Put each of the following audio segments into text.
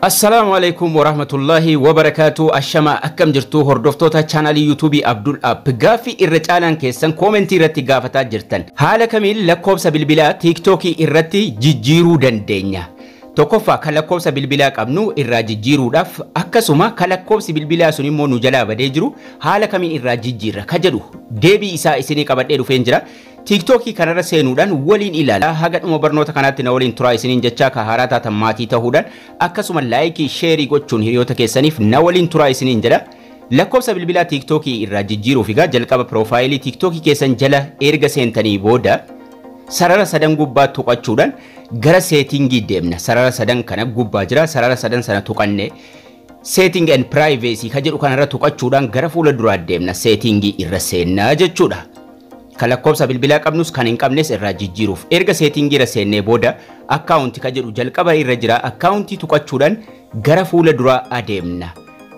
Assalaamu Aleeykum Warahmatullaahi Wabarakaatu Ashamaa akkam jirtuu hordoftoota chaanaalii yuutuubii Abdul App gaaffii irra caalaan keessan koomentii irratti gaafataa jirtan haala kamiin lakkoofsa bilbilaa tiiktookii irratti jijjiiruu dandeenya tokkoffaa kan lakkoofsa bilbilaa qabnu irraa jijjiiruudhaaf akkasuma kan lakkoofsi bilbilaa sun immoo nu jalaa badee jiru haala kamiin irraa jijjiirra ka jedhu deebii isaa isinii qabadhee dhufeen jira Tiiktookii kanarra seenuudhaan waliin ilaalaa haga dhuma barnoota kanaatti na waliin turaa isiniin jechaa ka haaraa taatan maatii tahuudhaan akkasuma laayikii sheerii gochuun hiriyoota keessaniif na waliin turaa isiniin jedha. Lakkoofsa bilbilaa tiiktookii irraa jijjiiruuf egaa jalqaba piroofaayilii tiiktookii keessan jala erga seentanii booda sarara sadan gubbaa tuqachuudhaan gara seetingii deemna. Sarara sadan kana gubbaa jira. Sarara sadan sana tuqanne Setting and Privacy ka jedhu kanarra tuqachuudhaan gara fuula duraa deemna. Seetiingii irra seennaa jechuudha. Kan lakkoofsa bilbilaa qabnus kan hin qabnes irraa jijjiiruuf. Erga seetiingii irra seennee booda akkaawunti ka jedhu jalqaba irra jira. Akkaawuntii tuqachuudhaan gara fuula duraa adeemna.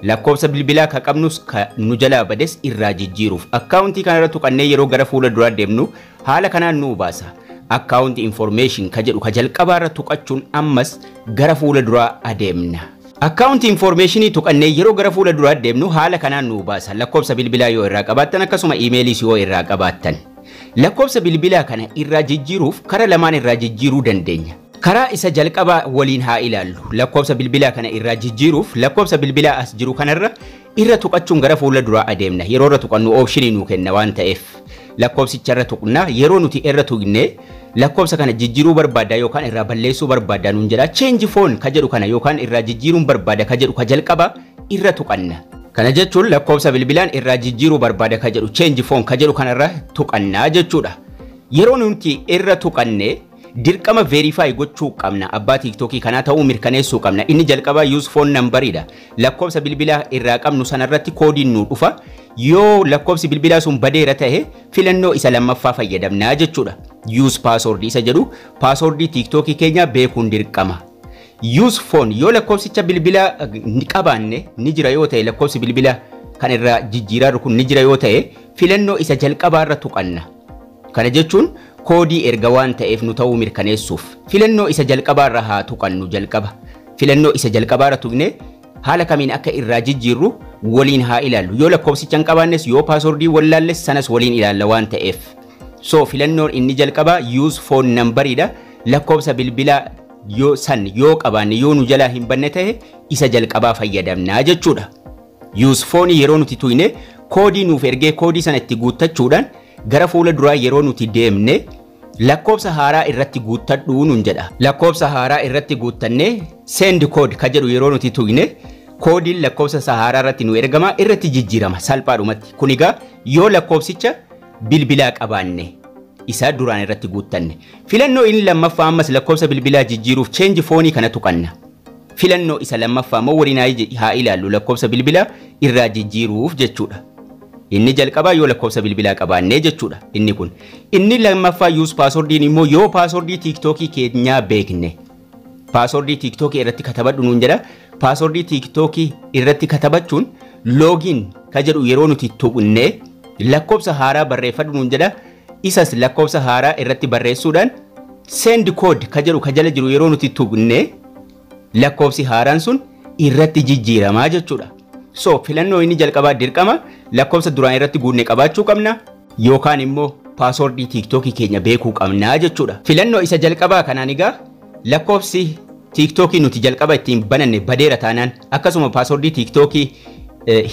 Lakkoofsa bilbilaa ka qabnus ka nu jalaa bades irraa jijjiiruuf. Akkaawuntii kanarra tuqannee yeroo gara fuula duraa deemnu haala kanaan nu baasa. Account Information ka jedhu ka jalqabaarra tuqachuun ammas gara fuula duraa adeemna. Account information tuqannee yeroo gara fuula duraa deemnu haala kanaan nuu baasa. Lakkoofsa bilbilaa yoo irraa qabaattan akkasuma imeeliis yoo irraa qabaattan. Lakkoofsa bilbilaa kana irraa jijjiiruuf kara lamaan irraa jijjiiruu dandeenya. Karaa isa jalqabaa waliin haa ilaallu. Lakkoofsa bilbilaa kana irraa jijjiiruuf lakkoofsa bilbilaa as jiru kanarra Irra tuqachuun gara fuula duraa adeemna. Yeroo irra tuqannu oopshinii nuu kenna waan ta'eef lakkoofsicha irra tuqna. Yeroo nuti irra tuqne lakkoofsa kana jijjiiruu barbaaddaa yookaan irraa balleessuu barbaaddaa nuun jedha. Change phone ka jedhu kana yookaan irraa jijjiiruun barbaada ka jedhu ka jalqaba irra tuqanna. Kana jechuun lakkoofsa bilbilaan irraa jijjiiruu barbaada ka jedhu change phone ka jedhu kanarra tuqanna jechuudha. Yeroo nuti irra tuqanne Dirqama verify gochuu qabna abbaa tiktokii kanaa ta'uu mirkaneessuu qabna inni jalqabaa use phone number dha lakkoofsa bilbilaa irraa qabnu sana irratti koodiin nuu dhufa yoo lakkoofsi bilbilaa sun badeera ta'e filannoo isa lammaffaa fayyadamna jechuudha use password isa jedhu password tiktokii keenya beekuun dirqama use phone yoo lakkoofsicha bilbilaa ni qabaanne ni jira yoo ta'e lakkoofsi bilbilaa kan irraa jijjiiraarru kun ni jira yoo ta'e filannoo isa jalqabaa irra tuqanna Kana jechuun koodii erga waan ta'eef nu ta'uu mirkaneessuuf filannoo isa jalqabaarra haa tuqannu jalqaba filannoo isa jalqabaarra tuqnee haala kamiin akka irraa jijjiirru waliin haa ilaallu yoo lakkoofsicha hin qabaannes yoo paaswordii wallaalles sanas waliin ilaalla waan ta'eef so filannoon inni jalqabaa use phone number dha lakkoofsa bilbilaa yoo san yoo qabaanne yoo nu jalaa hin banne ta'e isa jalqabaa fayyadamnaa jechuudha. Use phone yeroo nuti tuyne koodii nuuf ergee koodii sana itti guuttachuudhaan Gara fuula duraa yeroo nuti deemne lakkoobsa haaraa irratti guuttadhu nun jedha. Lakkoobsa haaraa irratti guuttannee send code ka jedhu yeroo nuti tuqne koodiin lakkoobsa isa haaraa irratti nu ergama irratti jijjiirama salphaadhumatti. Kun egaa yoo lakkoobsicha bilbilaa qabaanne isa duraan irratti guuttanne. Filannoo inni lammaffaa ammas lakkoobsa bilbilaa jijjiiruuf change foonii kana tuqanna. Filannoo isa lammaffaa immoo warinaayi jedhi haa ilaallu lakkoofsa bilbilaa irraa jijjiiruuf jechuudha. Inni jalqabaa yoo lakkoofsa bilbilaa qabaannee jechuudha inni kun. Inni lammaffaa yuus paaswordiin immoo yoo paaswordii tiiktookii keenyaa beekne. Paaswordii tiiktookii irratti katabadhu nuun jedha. Paaswordii tiiktookii irratti katabachuun loogiin ka jedhu yeroo nuti tuqne lakkoofsa haaraa barreeffadhu nuun jedha. Isas lakkoofsa haaraa irratti barreessuudhaan send code ka jedhu ka jala jiru yeroo nuti tuqne lakkoofsi haaraan sun irratti jijjiiramaa jechuudha. So filannoo inni jalqabaa dirqama lakkoofsa duraan irratti guunne qabaachuu qabna yookaan immoo paasoordii tiiktookii keenya beekuu qabnaa jechuudha. Filannoo isa jalqabaa kanaan egaa lakkoofsi tiiktookii nuti jalqaba ittiin bananne badeera taanaan Akkasuma paaswordii tiiktookii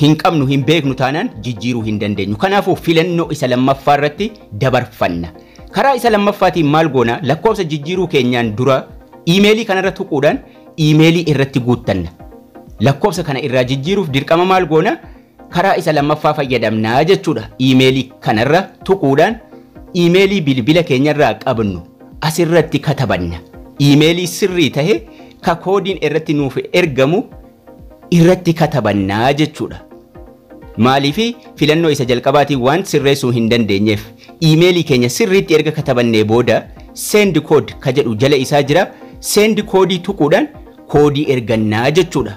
hin qabnu hin beeknu taanaan jijjiiruu hin dandeenyu. Kanaafuu filannoo isa lammaffaa irratti dabarfanna. Karaa isa lammaffaatiin maal goona? Lakkoofsa jijjiiruu keenyaan dura iimeelii kanarra tuquudhaan iimeelii irratti guuttanna. Lakkoofsa kana irraa jijjiiruuf dirqama maal goona? Karaa isa lammaffaa fayyadamna jechuudha. Iimeelii kanarra tuquudhaan iimeelii bilbila keenyarraa qabnu asirratti katabanna. Iimeelii sirrii tahe ka koodiin irratti nuuf ergamu irratti katabanna jechuudha. Maaliif filannoo isa jalqabaatiin waan sirreessuu hin dandeenyeef iimeelii keenya sirriitti erga katabannee booda send code ka jedhu jala isaa jira. Send koodii tuquudhaan koodii ergannaa jechuudha.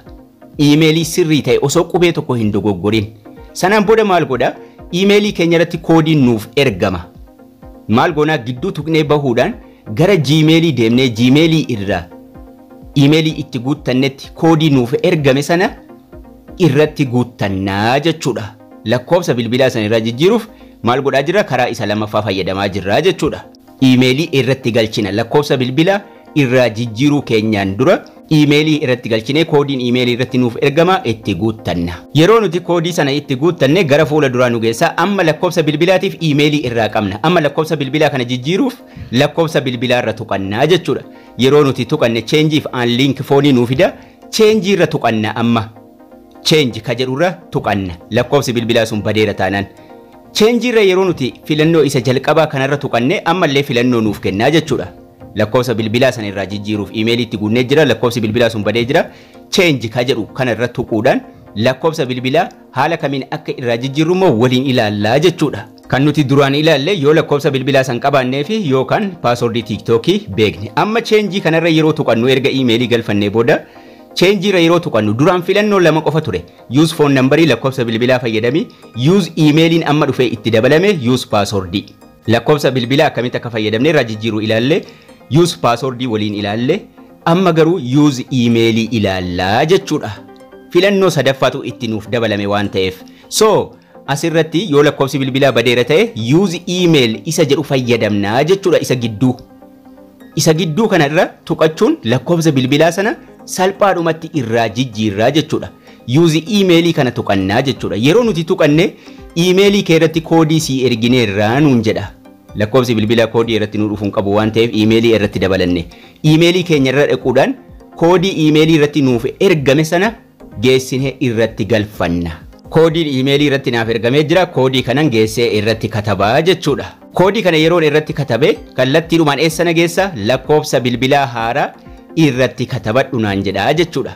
Iimeelii sirrii ta'e osoo qubee tokko hin dogoggorin. Sanaan booda maal godha? Iimeelii keenya irratti koodiin nuuf ergama. Maal goonaa gidduu tuqnee bahuudhaan gara Gmailii deemnee Gmailii irraa iimeelii itti guuttannetti koodii nuuf ergame sana irratti guuttannaa jechuudha. Lakkoofsa bilbilaa sana irraa jijjiiruuf maal godhaa jirra? Karaa isa lammaffaa fayyadamaa jirra jechuudha. iimeelii irratti galchina. Lakkoofsa bilbila irraa jijjiiruu keenyaan dura iimeelii irratti galchinee koodiin iimeelii irratti nuuf ergama itti guuttanna. Yeroo nuti koodii sana itti guuttanne gara fuula duraa nu geessa. Amma lakkoofsa bilbilaatiif iimeelii irraa qabna. Amma lakkoofsa bilbilaa kana jijjiiruuf lakkoofsa bilbilaa irra tuqanna jechuudha. Yeroo nuti tuqanne change fi an link foonii nuu fida. Change irra tuqanna amma. Change ka jedhu irra tuqanna. Lakkoofsi bilbilaa sun badeera taanaan. Change irra yeroo nuti filannoo isa jalqabaa kanarra tuqanne ammallee filannoo nuuf kennaa jechuudha. Lakkoofsa bilbilaa sana irraa jijjiiruuf imeelii itti guunnee jira lakkoofsi bilbilaa sun badee jira change ka jedhu kana irra tuquudhaan lakkoofsa bilbilaa haala kamiin akka irraa jijjiirru immoo waliin ilaallaa jechuudha. Kan nuti duraan ilaalle yoo lakkoofsa bilbilaa san qabaannee fi yookaan paaswordii tiiktookii beekne. Amma cheenjii kanarra yeroo tuqannu erga imeelii galfannee booda cheenjii irra yeroo tuqannu duraan filannoo lama qofa ture. Use phone number lakkofsa bilbilaa fayyadami Use email'n amma dhufee itti dabalame Use password lakkofsa bilbilaa akkamitti akka fayyadamne irraa jijjiiru ilaalle Use password waliin ilaalle amma garuu Use email ilaalla jechuudha filannoo sadaffaatu itti nuuf dabalame waan ta'eef so asirratti yoo lakkoofsi bilbilaa badeera ta'e Use email isa jedhu fayyadamna jechuudha isa gidduu Isa gidduu kana irra tuqachuun lakkoofsa bilbilaa sana salphaadhumatti irraa jijjiirraa jechuudha. Yuuzi iimeelii kana tuqannaa jechuudha. Yeroo nuti tuqanne iimeelii kee irratti koodii sii ergineerraa nuun jedha. Lakkoofsi bilbilaa koodii irratti nu dhufuun qabu waan ta'eef iimeelii irratti dabalanne. Iimeelii keenya irra dhaquudhaan koodii iimeelii irratti nuuf ergame sana geessine irratti galfanna. Koodiin iimeelii irratti naaf ergamee jira, koodii kanan geessee irratti kataba jechuudha. Koodii kana yeroon irratti katabe kallattiidhumaan eessa na geessa? Lakkoofsa bilbilaa haaraa irratti katabadhu naan jedha jechuudha.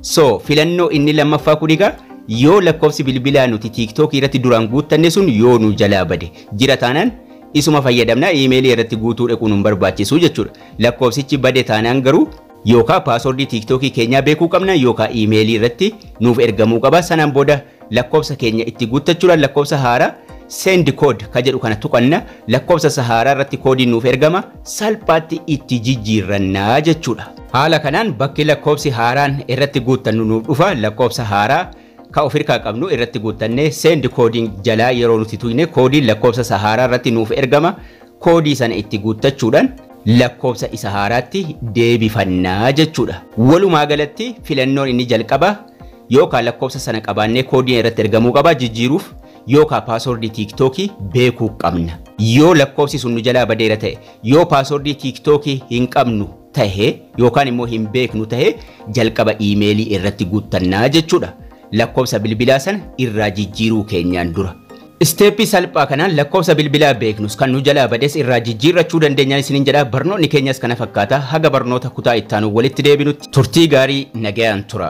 So filannoo inni lammaffaa kun egaa yoo lakkoofsi bilbilaa nuti TikTok irratti duraan guuttanne sun yoo nu jalaa bade jira taanaan isuma fayyadamna iimeelii irratti guutuu dhaquu nun barbaachisu jechuudha. Lakkoofsichi bade taanaan garuu Yookaa password tiktok keenyaa beekuu qabna yookaa email irratti nuuf ergamuu qaba sanaan booda lakkoofsa keenya itti guuttachuudhaan lakkoofsa haaraa send code ka jedhu kana tuqanna lakkoofsa isa haaraa irratti koodiin nuuf ergama salphaatti itti jijjiirranna jechuudha. Haala kanaan bakki lakkoofsi haaraan irratti guuttannu nuuf dhufa lakkoofsa haaraa ka of hirkaa qabnu irratti guuttannee send coding jalaa yeroo nuti tuyne koodiin lakkoofsa isa haaraa irratti nuuf ergama Koodii sana itti guuttachuudhaan lakkoofsa isa haaraatti deebifanna jechuudha. Walumaa galatti filannoon inni jalqabaa yookaa lakkoofsa sana qabaannee koodiin irratti ergamuu qaba jijjiiruuf yookaa paaswordii tiiktookii beekuu qabna. Yoo lakkoofsi sun nu jalaa badeera ta'e, yoo paaswordii tiiktookii hin qabnu tahe yookaan immoo hin beeknu tahe jalqaba iimeelii irratti guuttanna jechuudha. Lakkoofsa bilbilaa sana irraa jijjiiruu keenyaan dura. Isteeppii salphaa kanaan lakkoofsa bilbilaa beeknus kan nu jalaa bades irraa jijjiirrachuu dandeenyaa isiniin jedha barnoonni keenyas kana fakkaata haga barnoota kutaa ittaanun walitti deebinutti turtii gaarii nagayaan tura.